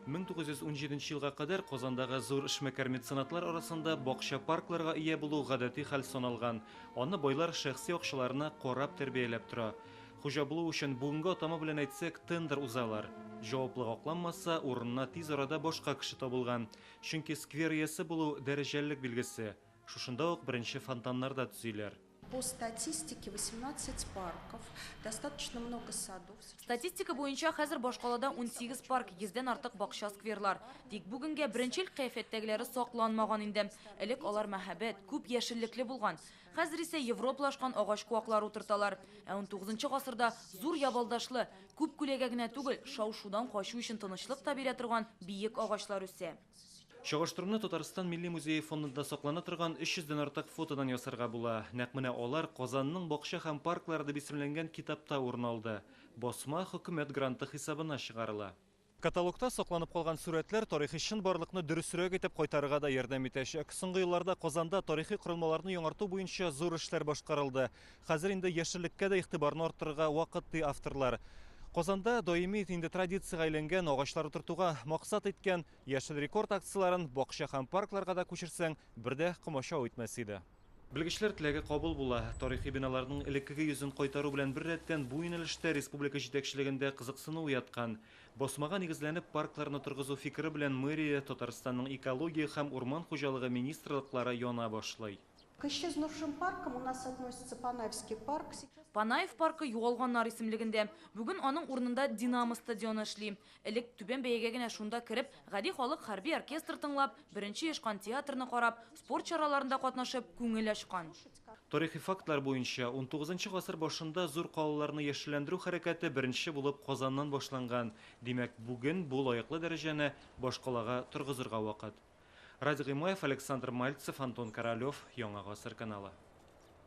1917 нче елга кадәр Казандагы зур эшмәкәр меценатлар арасында бакча-паркларга ия булу гадәти хәл саналган, аны байлар шәхси акчаларына карап тәрбияләп тора. Хуҗа булу өчен, бүгенге атама белән әйтсәк, тендер узалар. Җаваплылык акланмаса, урынына тиз арада башка кеше табылган. Чөнки сквер иясе булу, дәрәҗәлелек билгесе. Шушында ук беренче фонтаннар да төзиләр. По статистике 18 парков, достаточно много садов. Статистика буенча хәзер башкалада 18 парк, 100 дән артык бакча, скверлар. Тик бүгенгә беренче ел кыяфәттәгеләре сакланмаган инде. Элек алар мәһабәт, күп яшеллекле булган. Хәзер исә европлашкан агач куаклар утырталар. Ә 19 гасырда зур ябалдашлы, күп күләгә генә түгел, шау-шудан качу өчен тынычлык та бирә торган биек агачлар үсә. Чагыштыруны Татарстан Милли музее фондында саклана торган 300 дән артык фотодан ясарга була. Нәкъ менә алар Казанның бакча һәм парклары дип исемләнгән китапта урын алды. Басма хөкүмәт гранты хисабына чыгарыла. Каталогта сакланып калган сурәтләр тарихи чынбарлыкны дөресрәк итеп кайтарырга да ярдәм итәчәк. Соңгы елларда Казанда тарихи корылмаларны яңарту буенча зур эшләр башкарылды. Хәзер инде яшеллеккә дә игътибарны арттырырга вакыт, ди авторлар. Казанда даими инде традициягә әйләнгән агачлар утыртуга максат иткән Яшел рекорд акцияләрен бакча һәм паркларга да күчерсәң, бер дә комачау итмәс иде. Белгечләр теләге кабул була. Тарихи биналарның элеккеге йөзен кайтару белән беррәттән, бу юнәлештә республика җитәкчелегендә кызыксыну уяткан. Басмага нигезләнеп паркларны торгызу фикере белән мэрия, Татарстанның экология һәм урман хуҗалыгы министрлыклары яна башлый. Кыщи с нувшим парком у нас относится Панаевский парк. Панаев паркы югалганнар исемлегендә. Бүген аның урынында Динамо стадионы эшли. Элек түбән бәягә генә шунда кереп, гади халык хәрби оркестр тыңлап, беренче ешкан театрны карап, спорт чараларында катнашып, күңел ачкан. Тарихи фактлар буенча, унтугызынчы гасыр башында зур калаларны яшелләндерү хәрәкәте беренче булып Казаннан башланган. Димәк, бүген бу лаеклы дәрәҗәне башкалага торгызырга вакыт. Радий Гыймаев, Александр Мальцев, Антон Королев, Яңа гасыр каналы.